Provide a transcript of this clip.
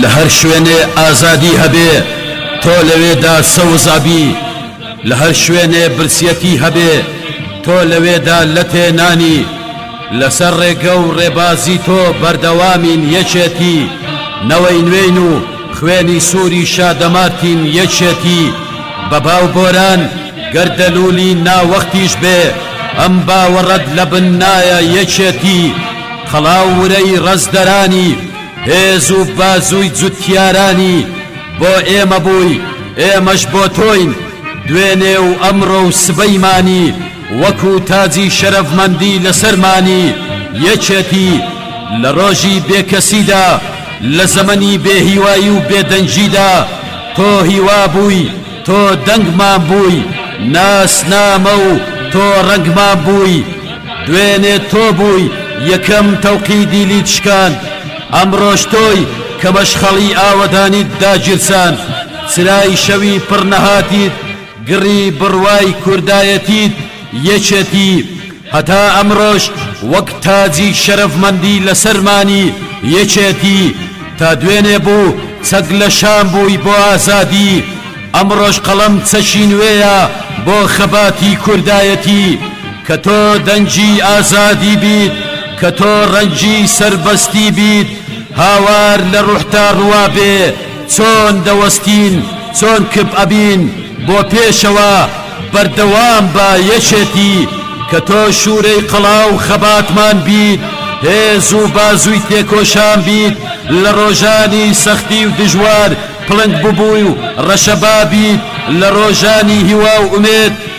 لە هەر شوێنێ ئازادی هەبێ تۆ لەوێدا سەوز ئەبی لە هەر شوێنێ برسیەتی هەبێ تۆ لەوێدا لەتێ نانی لەسەر ڕێگە و ڕێبازی تۆ بەردەوامین یەکێتی نەوەی نوێین و خوێنی سووری شادەمارتین یەکێتی بە باو گۆران گەر دەلولی ناوەختیش بێ ئەم باوەڕەت لە بن نایە یەکێتی خەڵاو ورەی ڕەزدەرانی هێز و بازووی جوتیارانی بۆ ئێمە بووی ئێمەش بۆ تۆین دوێنێ و ئەمڕۆ و سبەیمانی وەکو تاجی شەرەفمەندی لەسەرمانی یەکێتی لە ڕۆژی بێکەسیدا لە زەمەنی بێهیوایی و بێدەنگیدا تۆ هیوا بووی تۆ دەنگمان بووی ناسنامە و تۆ ڕەنگمان بووی دوێنێ تۆ بووی یەکەم تەوقی دیلیت شکاند ئەمڕۆش تۆی کە مەشخەڵی ئاوەدانیت داگیرساند چرای شەوی پڕ نەهاتیت گڕی بڕوای کوردایەتیت یەکێتی هەتا ئەمڕۆش وەک تاجی شەرەفمەندی لەسەر مانی یەکێتی تا دوێنێ بوو چەک لە شان بووی بۆ ئازادی ئەمڕۆش قەڵەم چەکی نوێیە بۆ خەباتی کوردایەتی کە تۆ دەنگی ئازادی بیت کە تۆ ڕەنگی سەربەستی بیت هاوار لە ڕوحتا ڕوابێ چۆن دەوەستین چۆن کپ ئەبین بۆ پێشەوە بەردەوام بە یەکێتی کە تۆ شورەی قەڵاو خەباتمان بیت هێز و بازوی تێکۆشان بیت لە ڕۆژانی سەختی و دژوار پڵنگ ببوی و ڕەشەبا بیت لە ڕۆژانی هیوا و ئومێد